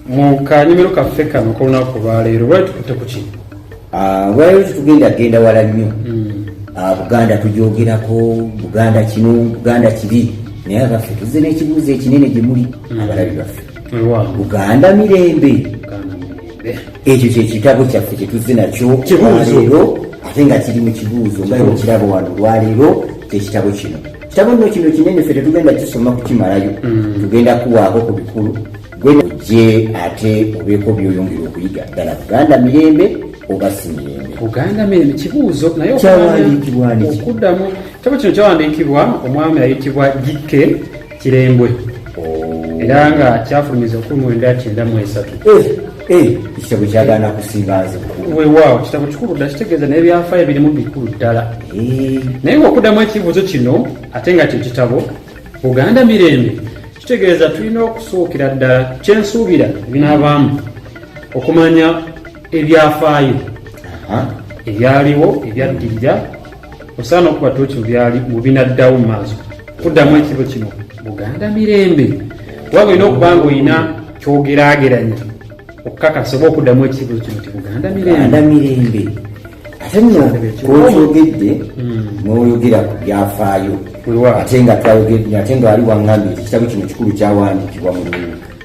mu kanyumiro kaffe kano kolunaku olwaleero lwali tukutte ku ki ah, lwaleero tetugenda genda wala nnyo hmm. ah, buganda tujogerako buganda kino buganda kiri naye abaffe tuzze n'ekibuuzo ekinene gye muli hmm. abalabi baffe buganda mirembe ekyo kyekitabo kyaffe kyetuzze nakyo leero ate nga kiri mu kibuuzo nga okiraba wano olwaleero kyekitabo kino kitabo nno kino kinene ffe tetugenda kisoma kukimalayo mm. tugenda kuwaako ku bikulu gwe ojje ate obeeko byoyongera okuyiga ddala buganda mirembe oba si mirembe buganda mirembe kibuuzo naye okuddamu kitabo kino kyawandiikibwa omwami ayitibwa jikke kirembwe oh. era nga kyafulumiza okumi mwenda kyenda mu esatu eh, eh, ekitabo kyagana kusingazi wewaawo kitabo kikulu ddala kitegeeza naye byafaayo birimu bikulu ddala eh. naye ngaokuddamu ekibuuzo kino ate nga kye kitabo buganda mirembe kitegeeza tulina okusuukira ddala kyensuubira ebinaabaamu okumanya ebyafaayo ebyaliwo ebyaddirira osaana okuba toki mubyali mubinaddawo mumaaso kuddamu ekiro kino buganda mirembe waba olina okubanga olina kyogerageranya okukakasa oba okuddamu ekiro kino ti buganda mirembe mirembe ate no kwokyogedde hmm. noyogera ku byafaayo ate nga twayogedde ate nga wali wangambye ekitabo kino kikulu kyawandikibwa mu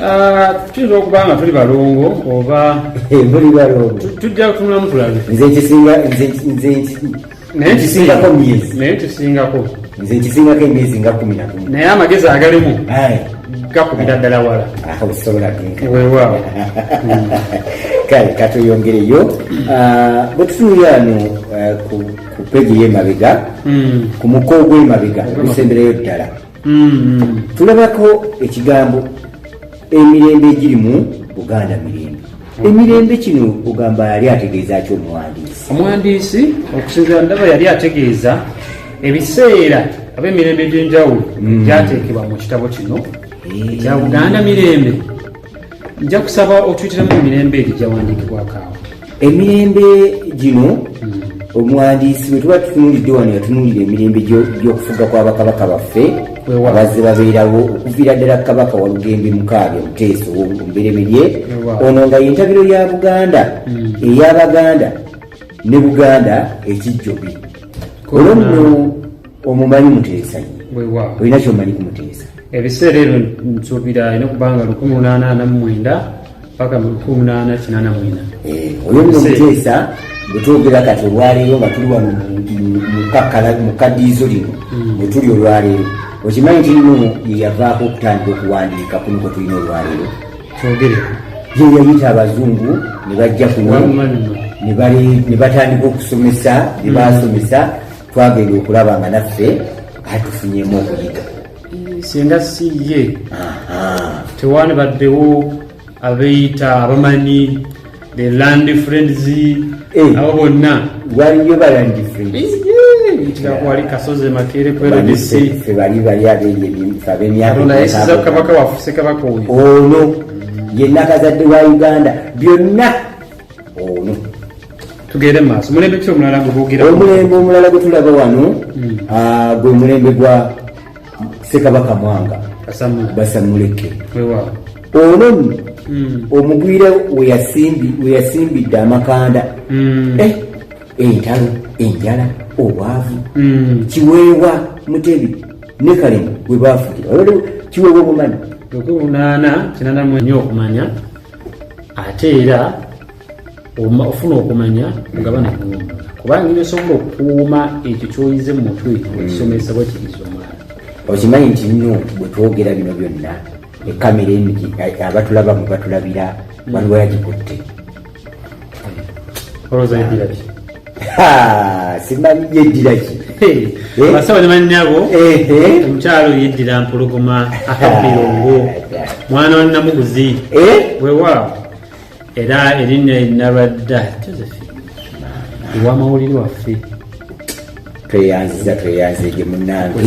Ah, tuyinza okuba nga tuli balongo oba muli balongo tujja kutunulamu tulabe nze ekisinga ekisingako myezi naye kisingako nze ekisingako emyezi nga kumi na gumu naye amagezi agalimu gakubira ddala wala ah, osobola weewaawo kale katuyongereyo ah, bwe tutunulira ano eh, ku pegi y'emabega hmm. ku muko ogw'emabega ogusembereyo ddala mm-hmm. tulabako ekigambo emirembe egiri mu buganda mirembe emirembe kino ogamba yali ategeeza ki omuwandiisi omuwandiisi okusinzira ndaba yali ategeeza ebiseera aba emirembe egyenjawulo mm. gyateekebwa mu kitabo kino ekya buganda mirembe nja kusaba otuyitiramu emirembe egyo gyawandiikibwako awo emirembe gino hmm. omuwandiisi bwe tuba tutunulidde wano yatunuulira emirembe gy'okufuga kwa bakabaka baffe abazze babeerawo okuviira ddala kabaka walugembe mukaaga omuteeso omubereberye ono nga yentabiro ya buganda hmm. eyabaganda ne buganda ekijjobi olwo nno omumanyi muteesa olina kyomanyi ku muteesa ebiseera ebyo nsuubira alina okubanga lukumi munaana ana mu mwenda paka mu lukumi munaana kinaana mwenda eh, oyo nno muteesa bwetwogera kati olwaleero nga tuli wano mu kadiizo lino mm. bwetuli olwaleero okimanyi nti nno yeyavaako okutandika okuwandiika kuno kwe tulina olwaleero twogere ye yayita abazungu ne bajja kuno ne batandika okusomesa ne baasomesa mm. twagenda okulaba nga naffe atufunyemu okuyiga singa si ye tewani baddewo abeeyita abamanyi the land friends eh. abo bonna waliyo balandi friends kirakwali kasozi makere kweredesi fe bali bali abenyabemyakabaka wafuse kabaka oyo ono yenna kazadde wa uganda byonna ono tugende maaso mulembe ki omulala gweboogera omulembe omulala gwe tulaba wano hmm. ah, gwe mulembe gwa sekabaka mwanga basamuleke ono hmm. omugwira weyasimbidde amakanda hmm. eh, entalo enjala obwavu kiweewa mutebi ne kalemu we baafugira kiweewa obumanyi okumanya ate era ofuna okumanya mugabane kuwumula kubanga nyo osobola okukuuma ekyo kyoyize mu mutwe ekisomesa bwe kiriza omwana okimanyi nti nno bwe twogera bino byonna ekamera eno abatulabamu batulabira waliwo yagikutte olowooza yeddira ki simanyi yeddira ki basaba ne bannyabo omukyalo yeddira mpologoma akabirongo mwana wa namuguzi wewaawo era erinnya nabadda josephine ewamawulire waffe tweyanziza tweyanze gye munange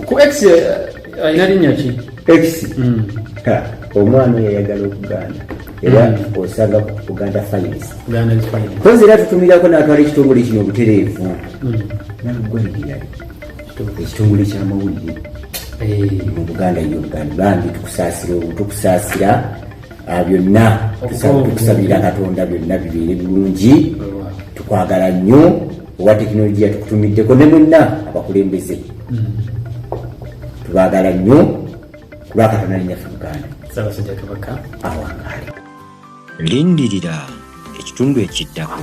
ku x eh, alina linnya ki x hmm. omwana oyo yayagala okuganda era hmm. osanga uganda finance kozi era tutumirako natwala ekitongole kino obutereevu hmm. nagwaliriyali ekitongole kyamawulire eh. mu buganda yogani bambi tukusaasira obu tukusaasira ah, byonna tukusabira katonda byonna bibeere bulungi tukwagala nnyo owa tekinologiya tukutumiddeko ne mwenna abakulembeze hmm. tubagala nnyo kulwakatana linyaffe buganda sabasajja kabaka awangaale lindirira ekitundu ekiddako